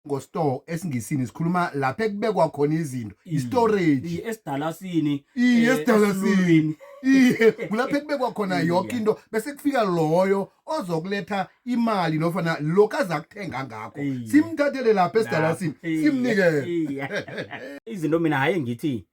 ngostore esingisini sikhuluma lapha ekubekwa khona izinto istorage Iye, esidalasini iye eh, esidalasini esilulwini. iye kulapha ekubekwa khona Iye. yoke into bese kufika loyo ozokuletha imali nofana lokhu azakuthenga ngakho Iye. simthathele lapha esidalasini Iye, simnikele iye. izinto mina haye ngithi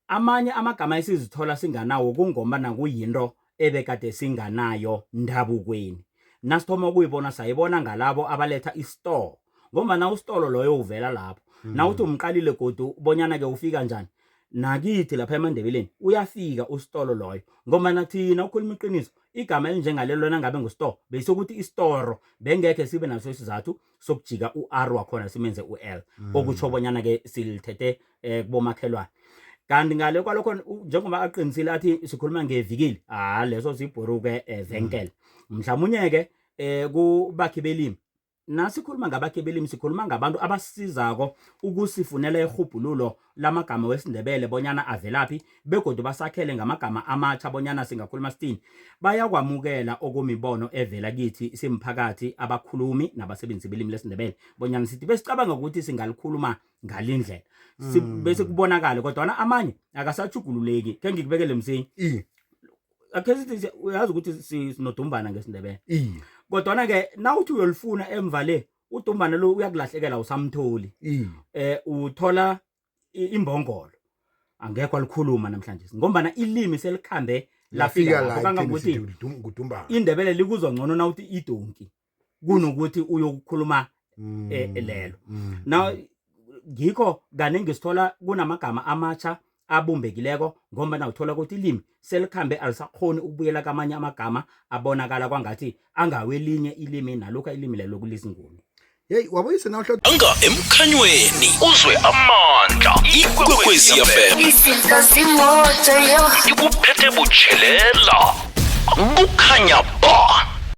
amanye amagama esizithola singanawo kungomba nakuyinto ebekade singanayo ndabukweni nasithoma ukuyibona sayibona ngalabo abaletha isitolo ngombana usitolo loyo uvela lapho mm. nawuthi umqalile godu bonyana-ke ufika njani nakithi lapha emandebeleni uyafika usitolo loyo ngombana thina ukhuluma iqiniso igama elinjengalelo nangabe ngusitolo besokuthi isitoro bengekhe sibe naso isizathu sokujika u-r wakhona simenze u-l mm. okutsho bonyana ke silithethe um kubomakhelwane kanti ngale kwalokho njengoba aqinisile athi sikhuluma ngevikili ha leso sibhuruke um venkele mm. mhlawumunye ke um kubakhi belimi nasikhuluma ngabakhe belimi sikhuluma ngabantu abasizako ukusifunela irhubhululo lamagama wesiNdebele bonyana avelaphi begodu basakhele ngamagama amatjha bonyana singakhuluma sithini bayakwamukela okumibono evela kithi simphakathi abakhulumi nabasebenzisi belimi lesiNdebele bonyana sithi besicabanga ukuthi singalikhuluma ngalindlela hmm. bese kubonakale kodwana amanye akasachugululeki khe ngikubekele msinya akhe sithi uyazi ukuthi sinodumbana ngesiNdebele kodwana-ke nawuthi uyolifuna emva le udumbana lo uyakulahlekela usamtholi mm. eh uthola imbongolo angekho alikhuluma namhlanje ngombana ilimi selikhambe lafika lapho kangangokuthi ngudumbana indebele likuzwa ngcono na uthi idonki kunokuthi uyokukhuluma mm. eh, lelo mm. now ngikho kaningi sithola kunamagama amatsha abumbekileko ngombana uthola ukuthi ilimi selikhambe alisakhoni ukubuyela kamanye amagama abonakala kwangathi angawelinye ilimi nalokhu ilimi lelo kulizinguni yeyi wabuyise nawuhlo anga emkhanyweni uzwe amandla ikwekwezi yafela izinto zimoto yo ikuphethe butshelela kukhanya ba